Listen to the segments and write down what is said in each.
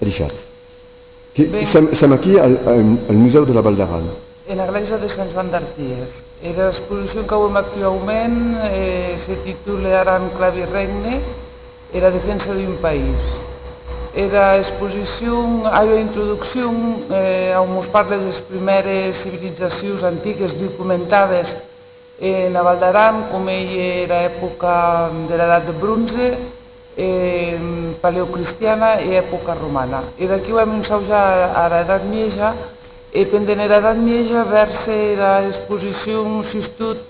Richard. Que sèm aquí al Musèu de la Val d'Aran. E la glèisa de Sant Joan d'Artièr. Era exposicion qu'auem actuaument se titule Aran, clavi e regne, era defensa d'un país. Era exposicion a ua introduccion a on mos parle des prumères civilizacions antiques documentades, E la Val d'Aran au mei era epoca de l'Edat de Bronze, e paleocristiana e epoca romana. E d'aquíu èm ensaujat ara Edat Mieja, e pendent era Edat Mieja vèrse era exposicion sustot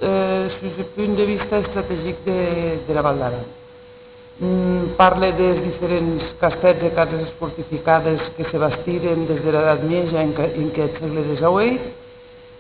sus eth punt de vista estrategic de la Val d'Aran. Parle des diferents castèths e cases fortificades que se bastiren des dera Edat Mieja en qu'eth sègle dexaueit,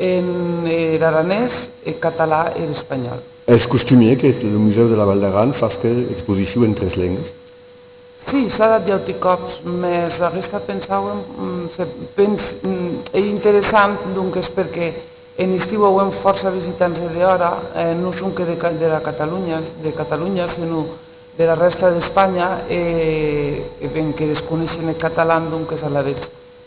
En er aranés, er català e er espanhòl. Es costumier que eth Musèu de la Val d'Aran fasque era exposicion en tres lengues. Sí, s'a dat d'auti còps, mès aguesta pensàuem se pens ei interessant, donques perque en estiu auem fòrça visitants de dehòra, non sonque dera Catalunha, de Catalunha, senon dera rèsta d'Espanha, e ben que desconeishen eth catalan, donques alavetz.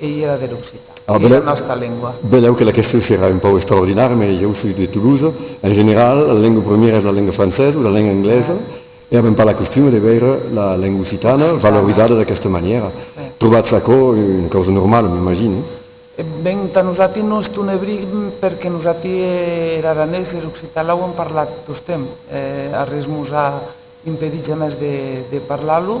Ei era der occitan. A era nòsta lengua. Velèu que la question serà un pòu extraordinària, mès jo soi de Toulouse. En general, la lenga primièra es la lenga francesa o la lenga anglesa e avèm pas la costuma de veire la lenga occitana valorizada d'aquesta manièra. Trobatz aquò una causa normala, m'imagine? E ben, tà nosati nos tonebrim perque nosati er aranés, er occitan l'auem parlat tostemp. Arrés mos a impedit jamès de parlar-lo.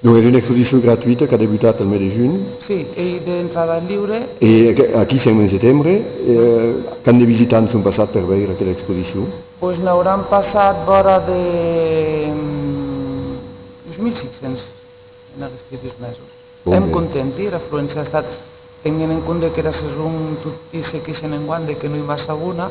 Donc es una exposicion gratuita qu'a debutat el mes de junh. Sí, ei d'entrada liure. E aquí sèm en setembre. Quant de visitants son passats per veire aquela exposicion? Pues n'auràn passat vòra de 2.500 en aguesti dus mesos. Èm contenti, era afluéncia a estat, tenguent en compde qu'era sason toti se queixen enguan de que no i va sagona,